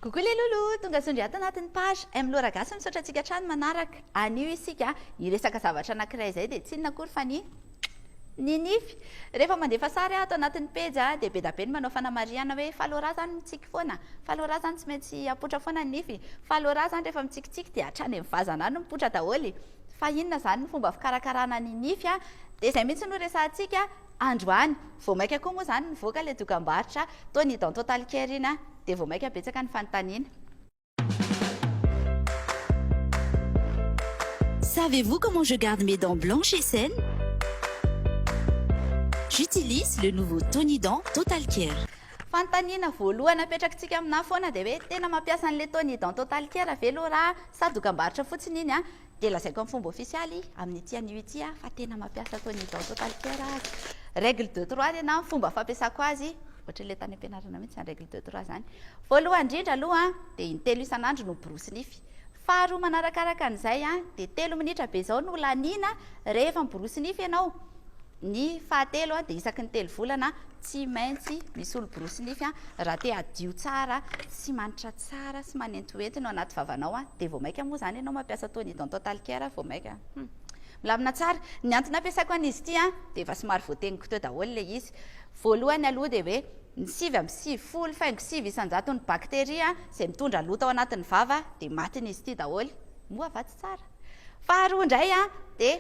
Coucou les loulous, tonga zondry ato anatin'ny page M Lora Gasy misaotra antsika hatrany manaraka. Anio isika hiresaka zavatra anankiray izay dia tsy inona akory fa ny ny nify. Rehefa mandefa sary ato anatin'ny pejy dia be dia be ny manao fanamarihana hoe fa Lora zany mitsiky foana, fa Lora zany tsy maintsy apoitra foana ny nify, fa Lora zany rehefa mitsikitsiky dia hatrany amin'ny vazana any mipoitra daholo, fa inona zany ny fomba fikarakarana ny nify dia izay mihitsy no resahantsika. Androany, vao maika koa moa izany nivoaka ilay dokambarotra toa ny dans total care iny dia vao maika betsaka ny fanontaniana. Savez vous comment je garde mes dents blanches et saines? J'utilise le nouveau Tony dents total care. Fanontaniana voalohany apetrakitsika aminà foana dia hoe tena mampiasa an'ilay Tony dents total care ve Laura sa dokambarotra fotsiny iny? dia lazaiko amin'ny fomba ofisialy amin'ity anio ity aho fa tena mampiasa Tony Don Total Care aho. Règle de trois anie na ny fomba fampiasako azy, ohatran'ilay tany am-pianarana mihitsy izany règle de trois izany. Voalohany indrindra aloha dia in-telo isan'andro no borosy nify. Faharoa manarakaraka an'izay dia telo minitra be izao no laniana rehefa miborosy nify ianao. Ny fahatelo dia isaky ny telo volana tsy maintsy misolo borosy nify raha te hadio tsara sy manitra tsara sy manentohento ny ao anaty vavanao dia vao maika moa izany ianao mampiasa tony dentotal care vao maika milamina tsara ny antony ampiasaiko an'izy ity dia efa somary voateniko teo daholo ilay izy voalohany aloha dia hoe ny sivy amby sivifolo faingo sivy isan-jaton'ny bakteria izay mitondra loto ao anatin'ny vava dia matin'izy ity daholo moa va tsy tsara Faharoa indray an, dia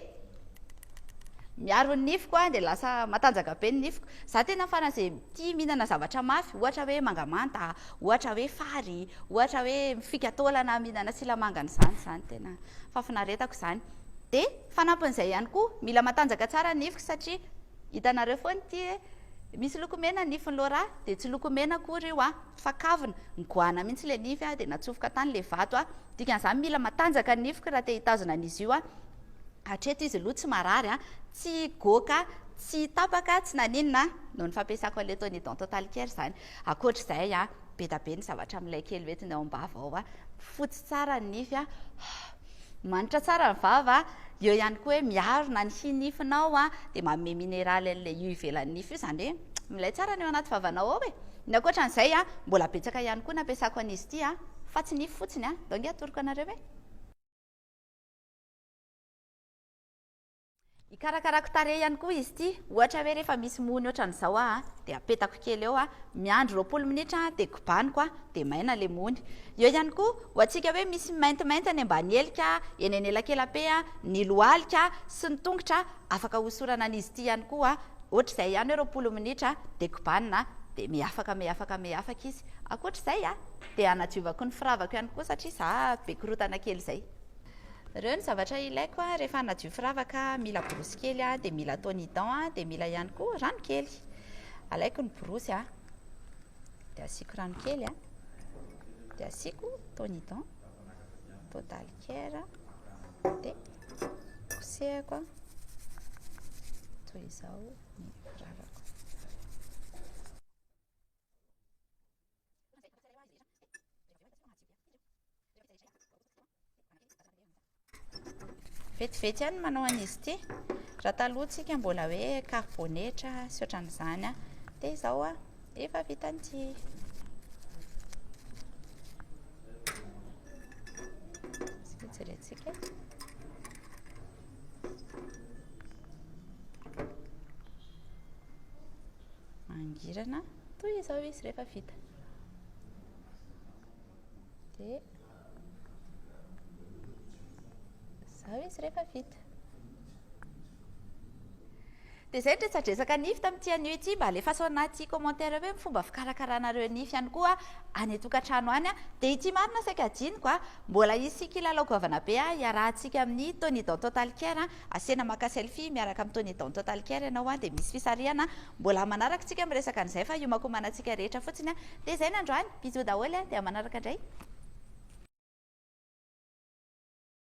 miaro ny nifiko an, dia lasa matanjaka be ny nifiko. Za tena faran'izay tia mihinana zavatra mafy, ohatra hoe mangamanta, ohatra hoe fary, ohatra hoe mifika taolana mihinana silamangany izany, izany tena fahafinaretako izany. Dia fanampin'izay ihany koa, mila matanjaka tsara ny nifiko satria hitanareo foana ity hoe misy loko mena ny nifin'i Laura, dia tsy loko mena akory io an. fa kavina, nigoahana mihitsy ilay nify aho dia natsofoka tany ilay vato aho, dikan'izany mila matanjaka ny nifiko raha te hitazona an'izy io aho, hatreto izy aloha tsy marary an, tsy goaka, tsy tapaka, tsy naninona an, noho ny fampiasako an'ilay Tony Dental Care izany, ankoatr'izay an, be da be ny zavatra milay kely hoentiny ao am-bava ao an, fotsy tsara ny nify an, Manitra tsara ny vava, eo ihany koa hoe miarona ny hi nifinao a, dia manome mineraly an'ilay io ivelan'ny nify io, izany hoe milay tsara ny ao anaty vavanao ao e. Ny ankoatra an'izay a, mbola betsaka ihany koa ny ampiasako an'izy ity a, fa tsy nify fotsiny a, donc atoroko anareo hoe. Hikarakarako tarehy ihany koa izy ity, ohatra hoe rehefa misy mony ohatran'izao aho dia apetako kely eo, miandry roapolo minitra dia kobaniko dia maina ilay mony. Eo ihany koa, ho antsika hoe misy maintimainty any ambany helika, eny anelakelam-pe, ny lohalika sy ny tongotra, afaka hosorana an'izy ity ihany koa, ohatr'izay ihany hoe roapolo minitra dia kobanina dia miafaka miafaka miafaka izy. Ankoatr'izay dia hanadiovako ny firavako ihany koa satria za be korontana kely izay. Reo ny zavatra ilaiko a, rehefa hanadio firavaka a, mila borosy kely a, dia mila ton y dent a, dia mila ihany koa rano kely. Alaiko ny borosy a, dia asiako rano kely a, dia asiako ton y dent, total care a, dia kosehako a, toy izao ny firavako. Vetivety ihany ny manao an'izy ity. Raha taloha tsika mbola hoe karbonetra sy ohatran'izany a. Dia izao a, efa vita an'ity. Sika jerentsika. mangirana toy izao izy rehefa vita dia izao izy rehefa vita dia izay ny resadresaka nify tamin'ity anio ity mba alefaso anaty commentaire hoe ny fomba fikarakaranareo nify ihany koa any an-tokantrano any dia ity marina saika adinoko a mbola hisy kilalao goavana be a hiarahantsika amin'ny Tony dans Total Care Asena maka selfie miaraka am Tony Don Total Care ianao an dia misy fisarihana an, mbola manaraka tsika miresaka an'izay fa hiomakomana tsika rehetra fotsiny an, dia izay ny androany, bisous daholo an dia manaraka indray.